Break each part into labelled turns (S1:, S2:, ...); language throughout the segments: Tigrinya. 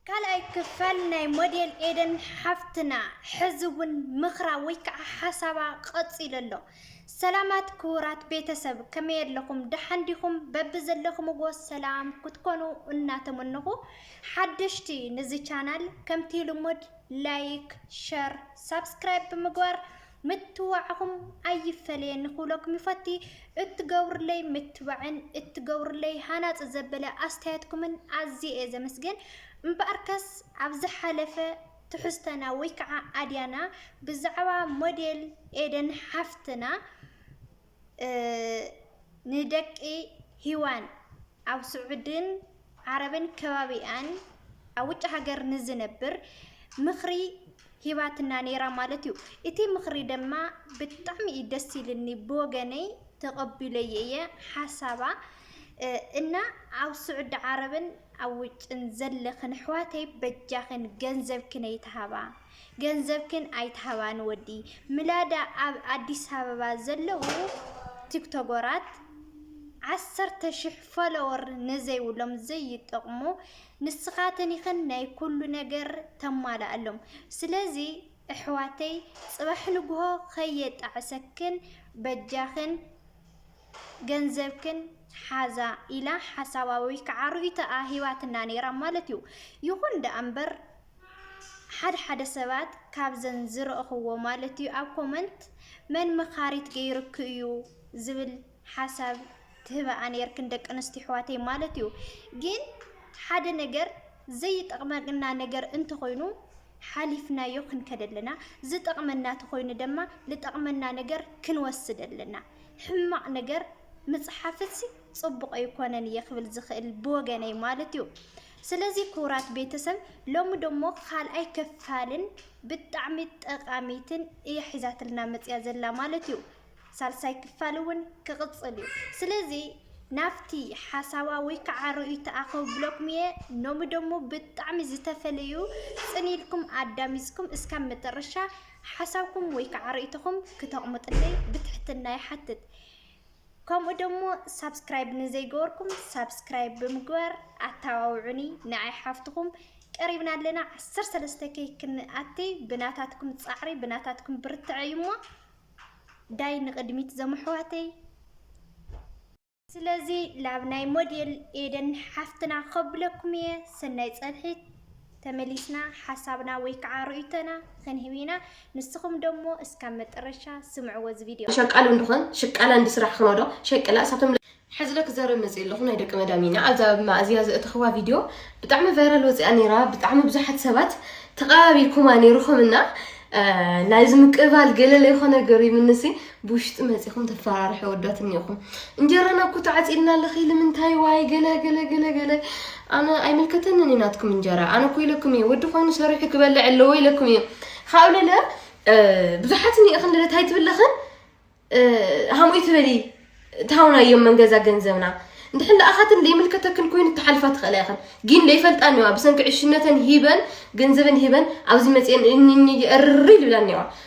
S1: ካልኣይ ክፋል ናይ ሞዴል ኤደን ሓፍትና ሕዚ እውን ምኽራ ወይ ከዓ ሓሳባ ቐፂሉ ኣሎ። ሰላማት ክቡራት ቤተሰብ ከመይ ኣለኹም? ደሓን ዲኹም? በብዘለኹምዎ ሰላም ክትኮኑ እናተመነኹ ሓደሽቲ ንዚ ቻናል ከምቲ ልሙድ ላይክ፣ ሸር፣ ሳብስክራይብ ብምግባር ምትብባዕኹም ኣይፈለየኒ ክብለኩም ይፈቲ። እትገብሩለይ ምትብባዕን እትገብሩለይ ሃናጺ ዘበለ ኣስተያየትኩምን ኣዝየ እየ ዘመስግን። እምበኣርከስ ኣብ ዝሓለፈ ትሕዝቶና ወይ ከዓ ኣድያና ብዛዕባ ሞዴል ኤደን ሓፍትና ንደቂ ሂዋን ኣብ ስዑድን ዓረብን ከባቢኣን ኣብ ውጭ ሃገር ንዝነብር ምኽሪ ሂባትና ነይራ ማለት እዩ። እቲ ምኽሪ ድማ ብጣዕሚ እዩ ደስ ኢልኒ ብወገነይ ተቐቢለዮ እየ ሓሳባ እና ኣብ ስዑዲ ዓረብን ኣብ ውጭን ዘለኽን ኣሕዋተይ በጃኽን ገንዘብክን ኣይትሃባ። ገንዘብክን ኣይትሃባ ንወዲ ምላዳ ኣብ ኣዲስ ኣበባ ዘለዉ ቲክቶጎራት ዓሰርተ ሽሕ ፎሎወር ንዘይብሎም ዘይጠቅሙ ንስካትን ኢክን ናይ ኩሉ ነገር ተማላኣሎም ስለዚ እሕዋተይ ጽባሕ ንግሆ ከየጣዕሰክን በጃክን ገንዘብክን ሓዛ ኢላ ሓሳባ ወይ ከዓ ርእይቶኣ ሂባትና ነይራ ማለት እዩ። ይኹን ደኣ እምበር ሓደ ሓደ ሰባት ካብዘን ዝረእኽዎ ማለት እዩ ኣብ ኮመንት መን መኻሪት ገይርኪ እዩ ዝብል ሓሳብ ትህበኣ ነይርክን ደቂ ኣንስትዮ ኣሕዋተይ ማለት እዩ ግን ሓደ ነገር ዘይጠቕመና ነገር እንተኾይኑ ሓሊፍናዮ ክንከደ ኣለና ዝጠቕመና ተኾይኑ ድማ ዝጠቕመና ነገር ክንወስድ ኣለና ሕማቕ ነገር ምፅሓፍሲ ፅቡቕ ኣይኮነን እየ ክብል ዝኽእል ብወገነይ ማለት እዩ ስለዚ ኩቡራት ቤተሰብ ሎሚ ደሞ ካልኣይ ክፋልን ብጣዕሚ ጠቃሚትን እያ ሒዛትልና መጽያ ዘላ ማለት እዩ ሳልሳይ ክፋል እውን ክቅጽል እዩ ስለዚ ናብቲ ሓሳባ ወይ ከዓ ርእይቶኣ ከብለኩም እየ ሎሚ ደሞ ብጣዕሚ ዝተፈለዩ ጽን ኢልኩም ኣዳሚጽኩም እስካብ መጠረሻ ሓሳብኩም ወይ ከዓ ርእይቶኹም ክተቕምጥለይ ብትሕትና ይሓትት ከምኡ ደሞ ሳብስክራይብ ንዘይገበርኩም ሳብስክራይብ ብምግባር ኣተባብዑኒ ንዓይ ሓፍትኹም ቀሪብና ኣለና ዓሰርተ ሰለስተ ከይ ክንኣቲ ብናታትኩም ፃዕሪ ብናታትኩም ብርትዐ እዩ እሞ ዳይ ንቕድሚት ዘምሕዋተይ ስለዚ ላብ ናይ ሞዴል ኤደን ሓፍትና ከብለኩም እየ ሰናይ ፀንሒት ተመሊስና ሓሳብና ወይ ከዓ ርእይቶና ኽንህብ ኢና ንስኹም ደሞ እስካብ መጠረሻ ስምዕዎ እዚ ቪድዮ። ሸቃሊ እንድኾን ሽቃላ
S2: እንዲ ስራሕ ኽኖዶ ሸቅላ እሳቶም ሕዝለ ክዘርብ መጺእ ኣለኹ ናይ ደቂ መዳም ኢና ኣብዛ መኣዝያ ዘእተኽዋ ቪድዮ ብጣዕሚ ቫይራል ወጺኣ ነይራ ብጣዕሚ ብዙሓት ሰባት ተቐባቢልኩማ ነይርኹም እና ናይዚ ምቅባል ገለለ ይኾነ ገሪምንሲ ብውሽጢ መጺኹም ተፈራርሑ ኣወዳት እኒኹም እንጀራ ናብ ኩታ ዓጺልና ኣለኺ ልምንታይ ዋይ ገለ ገለ ገለ ገለ ኣነ ኣይምልከተንን እዩ ናትኩም እንጀራ ኣነ እኮ ኢለኩም እዩ ወዲ ኮይኑ ሰሪሑ ክበልዕ ኣለዎ ኢለኩም እዩ ካብኡ ለለ ብዙሓት እኒእኽን ለለ ታይ ትብለኽን ሃምኡ ትበሊ ታውና እዮም መንገዛ ገንዘብና እንድሕን ለኣኻትን ዘይምልከተክን ኮይኑ ተሓልፋ ትኽእላ ይኽን ግን ለይፈልጣ እኒዋ ብሰንኪ ዕሽነተን ሂበን ገንዘበን ሂበን ኣብዚ መፅአን እኒ እርሪ ልብላ እኒዋ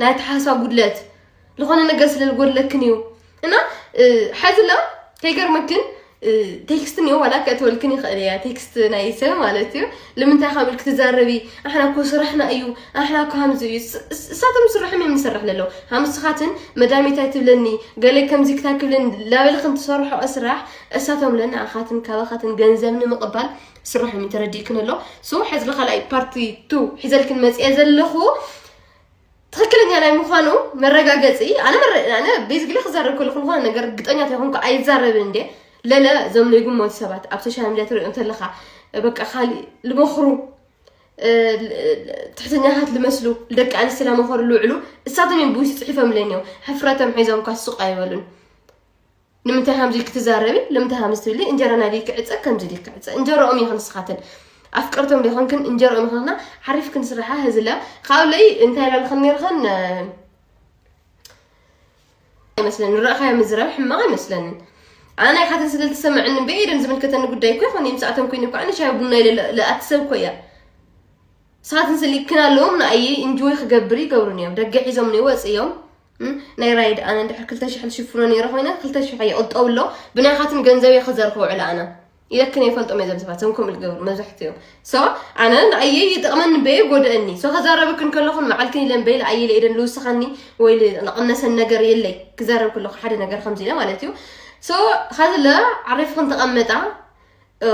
S2: ናይ ኣተሓሳስባ ጉድለት ዝኾነ ነገር ስለ ዝጎድለክን እዩ እና ሓዚ ላ ከይገርመክን ቴክስት እኒኦ ዋላ ክእትወልክን ይኽእል እያ ቴክስት ናይ ሰብ ማለት እዩ ልምንታይ ካብ ኢልክ ትዛረቢ ኣሕና እኮ ስራሕና እዩ ኣሕና እኮ ከምዚ እዩ እሳቶም ስርሖም እዮም ንሰርሕ ለለዉ ሃምስኻትን መዳሜታይ ትብለኒ ገለ ከምዚ ክታይ ክብለኒ ላበልክን ትሰርሖ ስራሕ እሳቶም ለና ኣኻትን ካባኻትን ገንዘብ ንምቕባል ስርሖም እዩ ተረዲእክን ኣሎ ሶ ሕዚ ካልኣይ ፓርቲ ቱ ሒዘልክን መፅኤ ዘለኹ ትክክለኛ ናይ ምዃኑ መረጋገፂ ኣነ ኣነ ቤዝግሊ ክዛረብ ከለኹ ዝኾነ ነገር እርግጠኛ ተይኮንኩ ኣይዛረብን እንደ ለለ እዞም ዘይግመቱ ሰባት ኣብ ሶሻል ሚዲያ ትሪኦም ተለኻ በቃ ካሊእ ልመኽሩ ትሕተኛታት ልመስሉ ደቂ ኣንስትዮ ለመኸሩ ልውዕሉ እሳቶም እዮም ብውሽጢ ፅሒፎምለኒ እዮም ሕፍረቶም ሒዞም ኳ ሱቅ ኣይበሉን ንምንታይ ከምዚ ኢልኪ ትዛረቢ ንምንታይ ከምዚ ትብሊ እንጀራና ድዩ ክዕፀ ከምዚ ድዩ ክዕፀ እንጀራኦም ይኹን ንስኻትን ኣፍቀርቶም ዲኹንክን እንጀራኦም ይኹንና ሓሪፍ ክንስራሓ ህዝላ ካብኡ ለይ እንታይ ላልኽን ነርኽን ኣይመስለኒ ንረእኻዮ ምዝራብ ሕማቕ ኣይመስለንን ኣነ ናይ ሓተን ስለ ዝተሰምዐኒ ብኢደን ዝምልከተኒ ጉዳይ እኮ ይኹን እዮም ሰዓቶም ኮይኑ ከዓ ንሻይ ቡና ኢለ ለኣትሰብ እኮ እያ ንስኻትን ስልክና ኣለዎም ንኣየ ኢንጆይ ክገብር ይገብሩን እዮም ደገ ሒዞም ንወፅ እዮም ናይ ራይድ ኣነ እንድሕር ክልተ ሽሕን ሽፍኖ ነይረ ኮይነ ክልተ ሽሕ እየ ቁጠብ ኣሎ ብናይኻትን ገንዘብ እየ ክዘር ክውዕል ኣነ ኢለክን የፈልጦም እየ ዘምስባት ዞም ከምኡ ዝገብሩ መብዛሕትኡ ሶ ኣነ ንኣየ ይጥቕመኒ በየ ጎድአኒ ሶ ከዛረብክን ከለኹን መዓልክን ኢለን በይለ ኣየለ ኢደን ልውስኸኒ ወይ ልቕነሰን ነገር የለይ ክዛረብ ከለኹ ሓደ ነገር ከምዚ ኢለ ማለት እዩ ሶ ኸዝለ ዓሪፍክን ተቐመጣ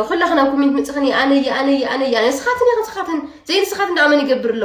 S2: ኩላኽን ኣብ ኮሜንት ምፅኽን ኣነ ኣነ ኣነ ኣነ ስኻትን ኢኽን ስኻትን ዘይንስኻትን ደኣ መን ይገብር ኣሎ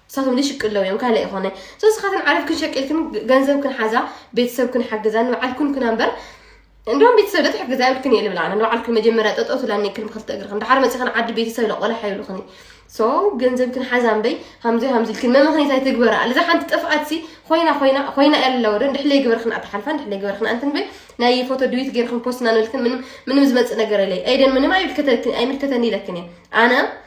S2: ንሳቶም ልሽቅ እለው እዮም ካልእ ኣይኮነ ሶ ስኻትን ዓረፍክን ሸቂልክን ገንዘብክን ሓዛ ቤተሰብክን ሓግዛ ንባዓልክን ኩና እምበር እንደውም ቤተሰብ ዶ ትሕግዛ ይብልክን እየ ልብላ ኣነ ንባዓልክን መጀመርያ ጠጠው ትብላ እኒክን ብክልተ እግርክን ድሓር መፂኽን ዓዲ ቤተሰብ ለቆላሕ ይብልኽኒ ሶ ገንዘብክን ሓዛ እምበይ ሃምዚ ሃምዚ ኢልክን መምኽኒት ኣይትግበራ ልዛ ሓንቲ ጥፍኣት ሲ ኮይና ኮይና ኮይና እያ ኣለዎ ዶ እንድሕለይ ግበርክን ኣትሓልፋ እንድሕለይ ግበርክን ኣንትን በይ ናይ ፎቶ ድዊት ገይርክን ፖስትና ንብልክን ምንም ምንም ዝመፅእ ነገር የለይ ኣይደን ምንም ኣይምልከተልክን ኣይምልከተኒ ኢለክን እየ ኣነ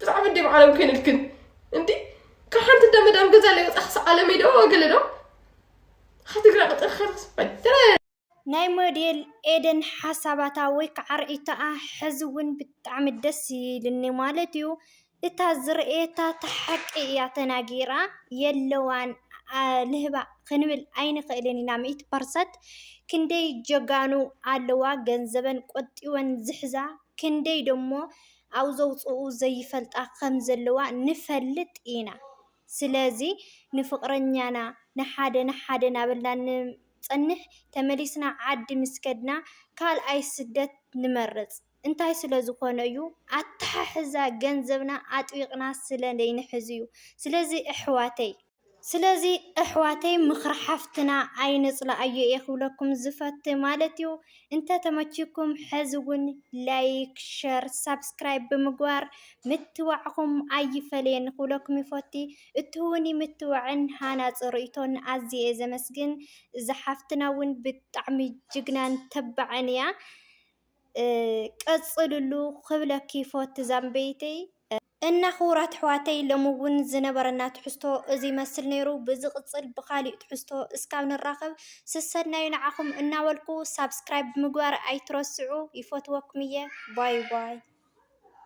S2: ብዛዕባ እንዴ ብዓለም ኮይንልክን እንዲ ካብ ሓንቲ እንዳ መዳም ገዛ ለይ ወፃ ክሳዕ ዓለም ዶ ገለ
S1: ዶ ካብ ትግራይ ቅጥር ከረስበይተረ ናይ ሞዴል ኤደን ሓሳባታ ወይ ከዓ ርእይቶኣ ሕዚ እውን ብጣዕሚ ደስ ይልኒ ማለት እዩ እታ ዝርእየታ እታ ሓቂ እያ ተናጊራ የለዋን ልህባ ክንብል ኣይንኽእልን ኢና ሚእቲ ፐርሰንት ክንደይ ጀጋኑ ኣለዋ ገንዘበን ቆጢበን ዝሕዛ ክንደይ ደሞ ኣውዘውጽኡ ዘይፈልጣ ከም ዘለዋ ንፈልጥ ኢና ስለዚ ንፍቅረኛና ንሓደ ንሓደ ናበልና ንጸንሕ ተመሊስና ዓዲ ምስ ከድና ካልኣይ ስደት ንመርጽ እንታይ ስለ ዝኮነ እዩ ኣታሓሕዛ ገንዘብና ኣጥቢቅና ስለ ዘይንሕዝ እዩ ስለዚ እሕዋተይ ስለዚ እሕዋተይ ምኽሪ ሓፍትና ኣይንፅላኣዮ እየ ክብለኩም ዝፈቲ ማለት እዩ። እንተተመቺኩም ሕዚ እውን ላይክ፣ ሸር፣ ሳብስክራይብ ብምግባር ምትብባዕኹም ኣይፈለየኒ ክብለኩም ይፈቲ። እትህቡኒ ምትብባዕን ሃናፂ ርኢቶን ኣዝየ እየ ዘመስግን። እዛ ሓፍትና እውን ብጣዕሚ ጅግናን ተባዕን እያ። ቀፅልሉ ክብለኪ ይፈቲ ዛምበይተይ። እና ክቡራት ኣሕዋተይ ሎሚ እውን ዝነበረና ትሕዝቶ እዚ ይመስል ነይሩ። ብዝቅፅል ብካሊእ ትሕዝቶ እስካብ ንራከብ ስሰናዩ ንዓኩም እናበልኩ ሳብስክራይብ ምግባር ኣይትረስዑ ይፈትወኩም እየ ባይ ባይ።